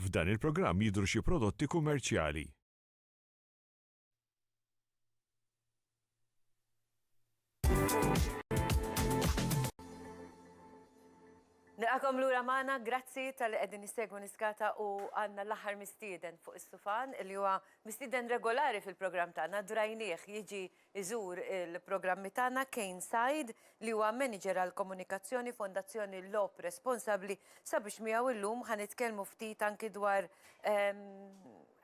F'dan il-programm jidhru xi prodotti kummerċjali. Nilqakom lura magħna, grazzi talli qegħdin issegwu Niskata u għandna l-aħħar mistieden fuq is-sufan li huwa mistieden regolari fil-programm tagħna, drajnieh jiġi iżur il-programmi tagħna Kane Said, li huwa Manager għall-Komunikazzjoni Fondazzjoni Logħob Responsabbli sabiex miegħu illum ħa nitkellmu ftit anki dwar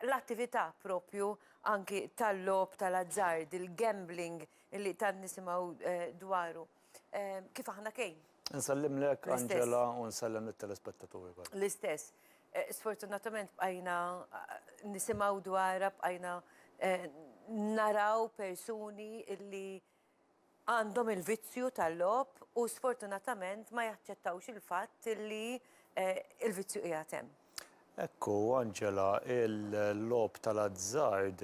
l-attività proprju anki tal-logħob tal-azzard, il-gambling li tant nisimgħu dwaru. Kif aħna kejn. Nsellimlek, Angela, u nsellem lit-telespettaturi kollha. L-istess. Sfortunatament bqajna nisimgħu dwarha, bqajna naraw persuni illi għandhom il-vizzju tal-logħob u sfortunatament ma jaċċettawx il-fatt illi l-vizzju qiegħed hemm. Hekk hu, Angela, il-logħob tal-azzard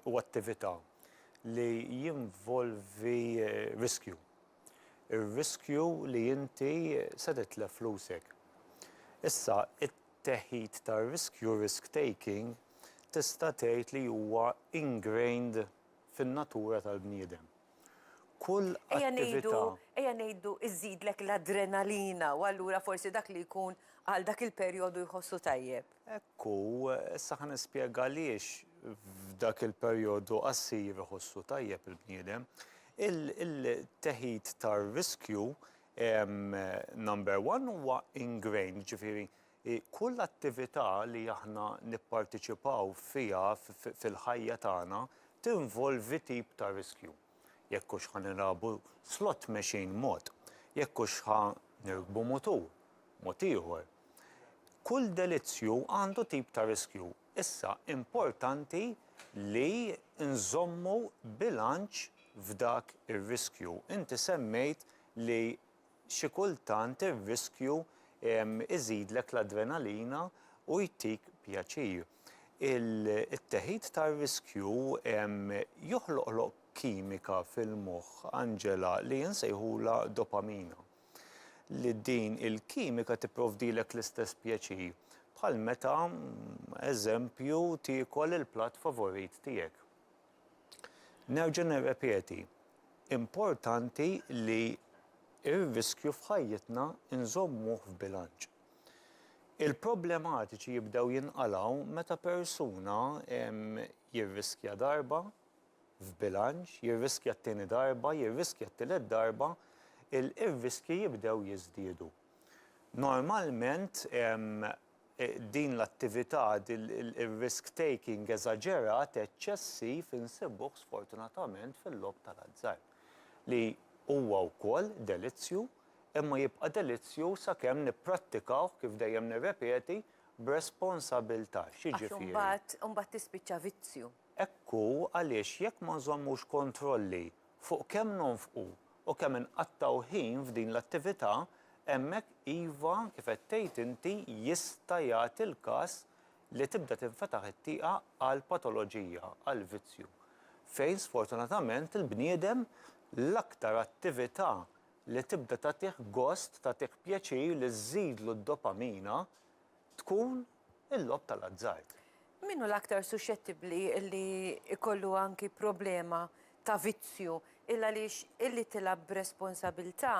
hu attività li jinvolvi riskju. Ir-riskju li inti se titlef flusek. Issa, it-teħid ta' riskju, risk taking, tista' tgħid li huwa ingrained fin-natura tal-bniedem. Kull attività. Ejja ngħidu żżidlek l-adrenalina u allura forsi dak li jkun għal dak il-perjodu jħossu tajjeb. Hekk hu, issa ħa nispjega għaliex f'dak il-perjodu qasir iħossu tajjeb il-bniedem. Il-teħid tar-riskju number one huwa ingrained, jiġifieri Hi kull attività li aħna nipparteċipaw fiha fil-ħajja tagħna tinvolvi tip ta' riskju. Jekk hux ħa nilagħbu slot machine mod, jekk hux ħa nirkbu mutur mod ieħor. Kull delizzju għandu tip ta' riskju. Issa importanti li nżommu bilanċ f'dak ir-riskju. Inti semmejt li xi kultant ir-riskju iżidlek l-adrenalina u jtik pjaċir. It-teħid tar-riskju joħloqlok kimika fil-moħħ, Angela, li insejħulha dopamina. Li din il-kimika tipprovdilek l-istess pjaċir bħal meta, eżempju, tiekol il-platt favorit tiegħek. Nerġa' nirrepeti, importanti li r-riskju f'ħajjitna nżommuh f'bilanċ. Il-problematiċi jibdew jinqalgħu meta persuna jirriskja darba, f'bilanċ, jirriskja t-tieni darba, jirriskja t-tielet darba, ir-riskji jibdew jiżdiedu. Normalment, Din l-attività, ir-risk taking eżaġerat, eċċessiv, insibuh sfortunatament fil-logħob tal-azzard, li huwa wkoll delizzju, imma jibqa' delizzju sakemm nipprattikawh, kif dejjem nirrepeti, b'responsabilità. X'jiġifieri? Għax imbagħad, imbagħad tispiċċa vizzju. Hekk hu għaliex jekk ma nżommux kontrolli fuq kemm nonfqu u kemm inqattgħu ħin f'din l-attività, hemmhekk iva, kif qed tgħid inti, jista' jagħti l-każ li tibda tinfetaħ it-tieqa għal patoloġija, għal vizzju, fejn sfortunatament il-bniedem l-aktar attività li tibda tagħtih gost, tagħtih pjaċir, li żżidlu d-dopamina, tkun il-logħob tal-azzard. Min hu l-aktar suxxettibbli li jkollu anki problema ta' vizzju il għaliex illi tilgħab b'responsabilità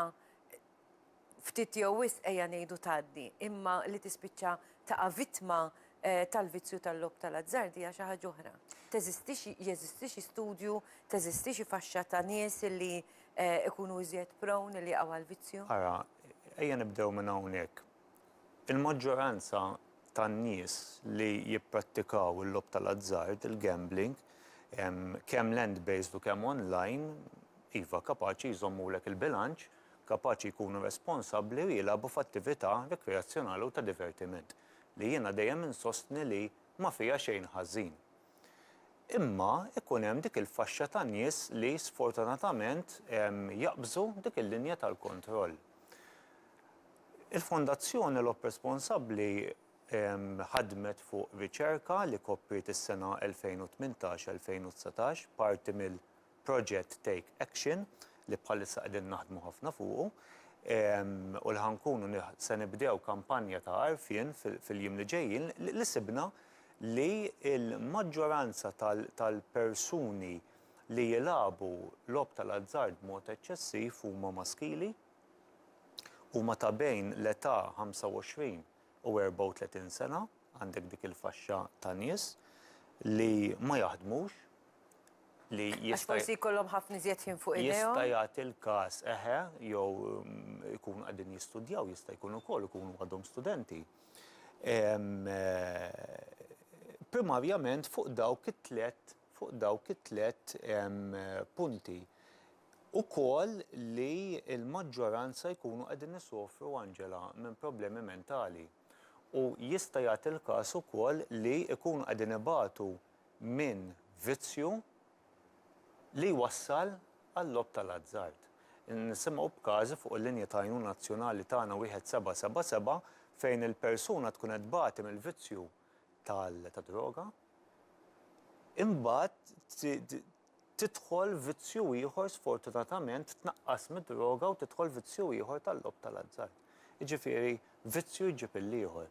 ftit jew wisq ejja ngħidu tgħaddi, imma li tispiċċa taqa' vittma tal-vizzju tal-logħob tal-azzard hija xi ħaġa oħra. Teżistix jeżisti xi studju, teżisti xi faxxa ta' nies illi jkunu iżjed prone illi jaqgħu għall-vizzju? Ara, ejja nibdew minn hawnhekk. Il-maġġoranza tan-nies li jipprattikaw il-logħob tal-azzard, il-gambling, kemm land-based u kemm online, iva, kapaċi jżommulek il-bilanċ, kapaċi jkunu responsabbli u jilagħbu f'attività rikreazzjonali u ta' divertiment, li jiena dejjem insostni li ma fiha xejn ħażin. Imma jkun hemm dik il-faxxa ta' nies li sfortunatament jaqbżu dik il-linja tal-kontroll. Il-Fondazzjoni Logħob Responsabbli ħadmet fuq riċerka li kopriet is-sena 2018-2019, parti mill. proġett Take Action li bħalissa qegħdin naħdmu ħafna fuqu u li ħa nkunu se nibdew kampanja ta' għarfien fil-jiem li ġejjin li sibna li l-maġġoranza tal-persuni li jilagħbu logħob tal-azzard b'mod eċċessiv huma maskili, huma ta' bejn l-età 25 u 34 sena, għandek dik il-faxxa ta' nies li ma jaħdmux, li jista'. Għax forsi jkollhom ħafna iżjed ħin fuq idejhom. Jista' jagħti l-każ, eħe, jew ikunu qegħdin jistudjaw, jista' jkun ukoll ikunu għadhom studenti. Primarjament fuq dawk it-tliet fuq dawk it-tliet punti ukoll li l-maġġoranza jkunu qegħdin isofru, Angela, minn problemi mentali. U jista' jagħti l-każ ukoll li jkunu qegħdin ibatu minn vizzju li jwassal għal-logħob tal-azzard. Nisimgħu b'każi fuq il-linji ta' għajnuna nazzjonali tagħna wieħed seba' seba' seba' fejn il-persuna tkun qed tbati mill-vizzju. tad-droga, imbagħad tidħol vizzju ieħor sfortunatament tnaqqas mid-droga u tidħol vizzju ieħor tal-logħob tal-azzard. Jiġifieri vizzju jġib il-ieħor.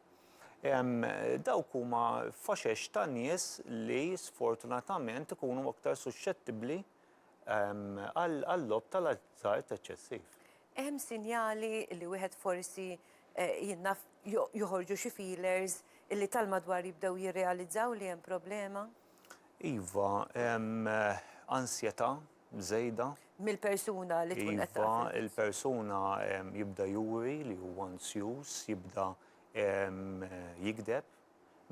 Dawk huma faxex ta' nies li sfortunatament ikunu aktar suxxettibbli għal-logħob tal-azzard eċċessiv. Hemm sinjali li wieħed forsi, jien naf, joħorġu xi feelers li tal-madwar jibdew jirrealizzaw li hemm problema? Iva, hemm ansjetà żejda. Mill-persuna li tkun qed tagħti l-ħsieb. Iva, il-persuna jibda juri li hu ansjuż, jibda jigdeb,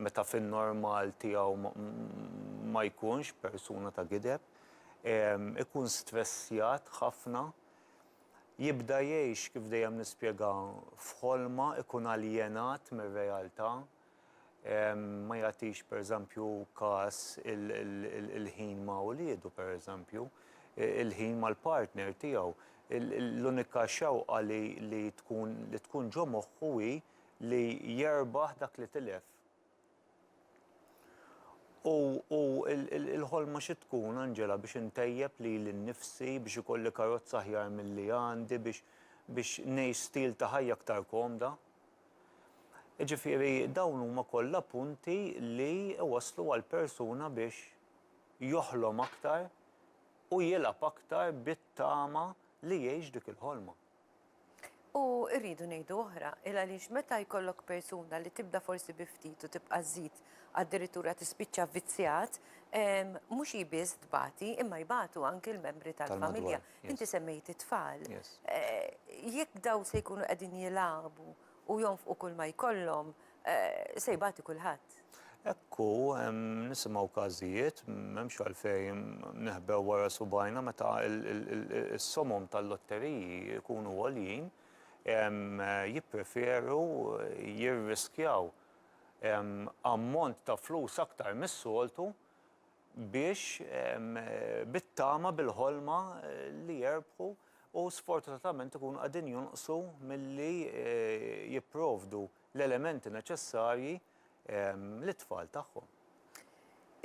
meta fin-normal tiegħu ma jkunx persuna ta' gideb. Ikun stressjat ħafna, jibda jgħix, kif dejjem nispjega, f'ħolma, ikun aljenat mir-realtà, ma jagħtix pereżempju kas il-ħin ma' uliedu pereżempju, il-ħin mal-partner tiegħu. L-unika xewqa li tkun ġo moħħu hi li jerbaħ dak li tilef. U, u, il-ħolma xi tkun, Angela, biex intejjeb lili nnifsi, biex ikolli karozza aħjar milli għandi, biex, biex ngħix stil ta' ħajja aktar komda? Jiġifieri dawn huma kollha punti li jwasslu għal persuna biex joħlom aktar u jilgħab aktar bit-tama li jgħix dik il-ħolma. U rridu ngħidu oħra, il għaliex meta jkollok persuna li tibda forsi bi ftit u tibqa' żżid addirittura tispiċċa vvizzjat, mhux hi biss tbati imma jbatu anki l-membri tal-familja. Inti semmejt it-tfal. Jekk dawn se jkunu qegħdin jilagħbu u jonfqu kull ma jkollhom Se jbati kulħadd. Hekk hu, nisimgħu każijiet, m'hemmx għalfejn neħbew wara subgħajna meta s-somom tal-lotteriji jkunu għoljin, jippreferu jirriskjaw ammont ta' flus aktar mis-soltu biex bit-tama, bil-ħolma li jerbħu u sfortunatament ikunu qegħdin jonqsu milli jipprovdu. l-elementi neċessarji lit-tfal tagħhom.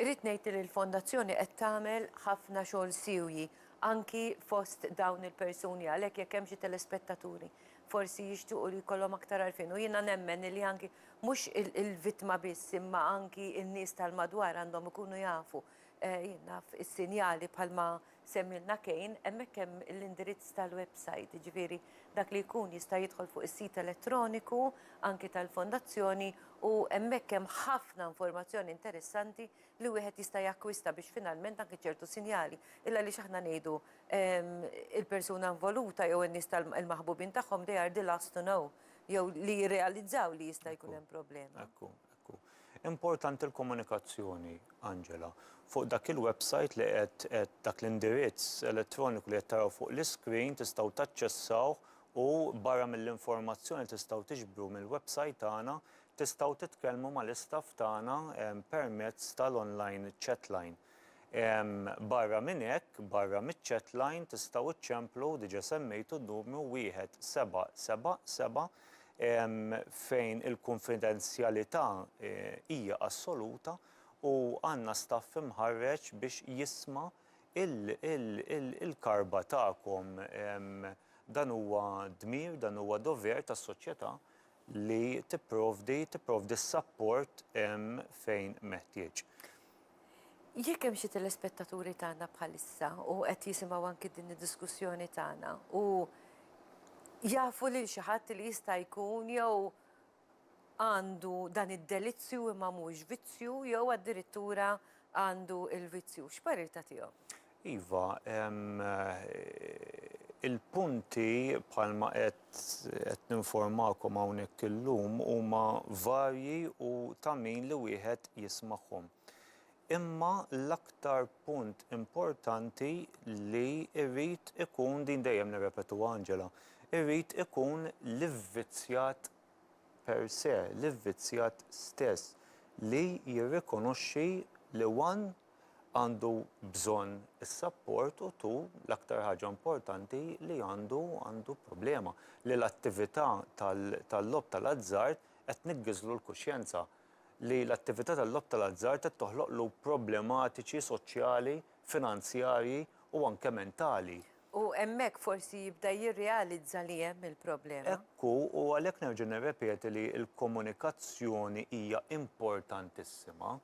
Irrid ngħid li l-Fondazzjoni qed tagħmel ħafna xogħol siewji anki fost dawn il-persuni għalhekk jekk hemm xi telespettaturi forsi jixtiequ li jkollhom aktar għarfien u jiena nemmen li anki mhux il-vittma biss imma anki n-nies tal-madwar għandhom ikunu jafu jien naf is-sinjali bħalma Semmilna Kane, hemmhekk hemm l-indirizz tal-websajt, jiġifieri dak li jkun jista' jidħol fuq is-sit elettroniku anki tal-Fondazzjoni u hemmhekk hemm ħafna informazzjoni interessanti li wieħed jista' jakkwista biex finalment anki ċertu sinjali, il-għaliex aħna ngħidu il-persuna involuta jew in-nies tal-maħbubin tagħhom they are the last to know jew li jirrealizzaw li jista' jkun hemm problema. Importanti l-komunikazzjoni, Angela. Fuq dak il-websajt li qed qed dak l-indirizz elettroniku li qed taraw fuq l-iskrin tistgħu taċċessawh u barra mill-informazzjoni li tistgħu tiġbru mill-websajt tagħna tistgħu titkellmu mal-istaff tagħna permezz tal-online chatline. Barra minn hekk, barra miċ-chatline tistgħu ċċemplu, diġa' semmejtu n-numru 1777 fejn il-kunfidenzjalità hija assoluta u għandna staff imħarreġ biex jisma' l-karba tagħkom. Dan huwa dmir, dan huwa dover tas-soċjetà li tipprovdi tipprovdi s-sapport fejn meħtieġ. Jekk hemm xi telespettaturi tagħna bħalissa u qed jisimgħu anki din id-diskussjoni tagħna u jafu lil xi ħadd li jista' jkun jew għandu dan id-delizzju imma mhux vizzju jew addirittura għandu il-vizzju, x'parir tagħtihom? Iva, il-punti bħalma qed ninformakom hawnhekk illum huma varji u ta' min li wieħed jismagħhom. Imma l-aktar punt importanti li jrid ikun, din dejjem nirrepetuha Angela, irid ikun l-ivvizzjat per se, l-ivvizzjat stess li jirrikonoxxi li one, għandu bżonn is-sapport u tu l-aktar ħaġa importanti li għandu għandu problema li l-attività tal-logħob tal-azzard qed tniggiżlu l-kuxjenza, li l-attività tal-logħob tal-azzard qed toħloqlu problematiċi soċjali, finanzjarji u anke mentali. U hemmhekk forsi jibda jirrealizza li hemm il-problema. Hekk hu u għalhekk nerġa' nirrepeti li l-komunikazzjoni hija importantissima.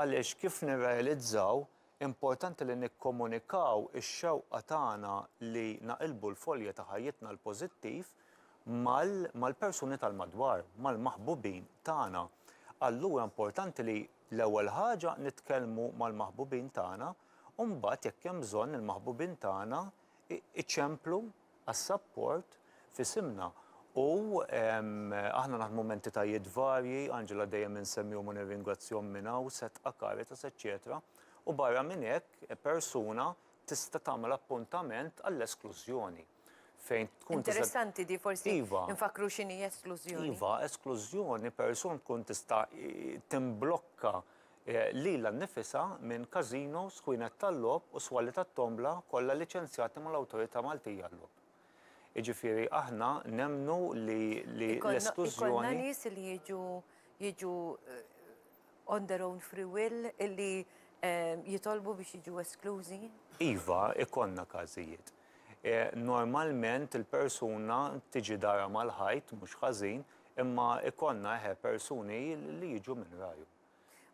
Għaliex, kif nirrealizzaw, importanti li nikkomunikaw ix-xewqa tagħna li naqilbu l-folja ta' ħajjitna l-pożittiv mal mal-persuni tal-madwar, mal-maħbubin tagħna. Allura importanti li, l-ewwel ħaġa, nitkellmu mal-maħbubin tagħna u mbagħad, jekk hemm bżonn, il-maħbubin tagħna iċemplu għas-sapport f'isimna u aħna naħdmu m'entitajiet varji, Angela dejjem insemmihom u nirringrazzjahom minn hawn, Setqa, Caritas, eċċetera u barra minn hekk persuna tista' tagħmel appuntament għall-esklużjoni fejn tkun tista'. Interessanti di forsi nfakkru x'inhi esklużjoni. Iva, esklużjoni persuna tkun tista' timblokka lilha nnifisha minn każinos, ħwienet tal-logħob u swali tat-tombla kollha liċenzjati mal-Awtorità Maltija għal-Logħob. Jiġifieri aħna nemmnu li l-esklużjoni. Ikollna nies li jiġu jiġu on their own free will illi jitolbu biex jiġu esklużi? Iva, ikollna każijiet. Normalment il-persuna tiġi darha mal-ħajt, mhux ħażin, imma ikollna, eħe, persuni li jiġu minn rajhom.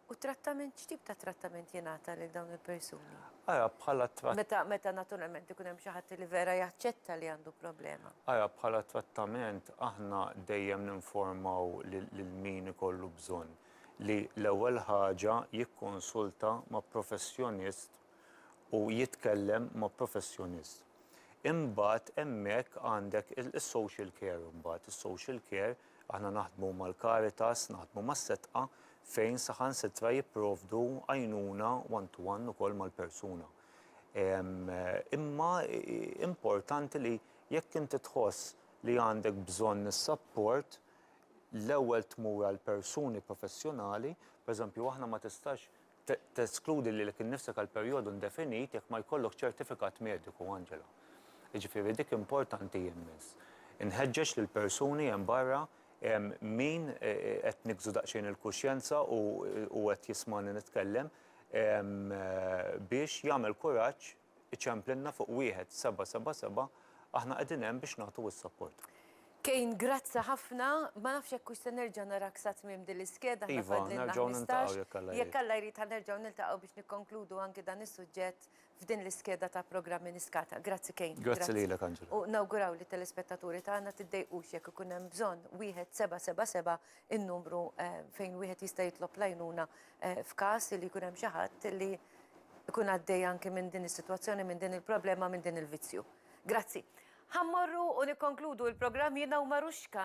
U t-trattament, x'tip ta' trattament jingħata lil dawn il-persuni? Ara, bħala tratt. Meta, meta naturalment ikun hemm xi ħadd li vera jaċċetta li għandu problema. Ara, bħala trattament aħna dejjem ninformaw lil lil min ikollu bżonn li l-ewwel ħaġa jikkonsulta ma' professjonist u jitkellem ma' professjonist. Imbagħad hemmhekk għandek is-social care imbagħad, is-social care Aħna naħdmu mal-Caritas, naħdmu mas-Setqa fejn saħansitra jipprovdu għajnuna one to one ukoll mal-persuna. Imma importanti li jekk inti tħoss li għandek bżonn is-sapport, l-ewwel tmur għal persuni professjonali, pereżempju aħna ma tistax Teskludi lilek innifsek għal perjodu indefinit jekk ma jkollok ċertifikat mediku, Angela. Jiġifieri dik importanti immens. Inħeġġeġ lill-persuni hemm barra min qed niggżu daqsxejn il-kuxjenza u qed jismagħni nitkellem biex jagħmel kuraġġ, iċemplilna fuq 1777 aħna qegħdin hemm biex nagħtu s-support. Kane grazzi ħafna, ma nafx jekk hux se nerġa' narak sa tmiem din l-iskeda aħna fadlilna 15. Jekk Alla jrid ħa nerġgħu niltaqgħu biex nikkonkludu anki dan is-suġġett f'din l-iskeda ta' programmi niskata. Grazzi Kane. Grazzi lilek Angela. U nawguraw lit-telespettaturi tagħna tiddejqux jekk ikun hemm bżonn 1777 in-numru fejn wieħed jista' jitlob l-għajnuna f'każ li jkun hemm xi ħadd li ikun għaddej anki minn din is-sitwazzjoni, minn din il-problema, minn din il-vizzju. Grazzi. Ħa mmorru u nikkonkludu l-programm jiena u Marushka.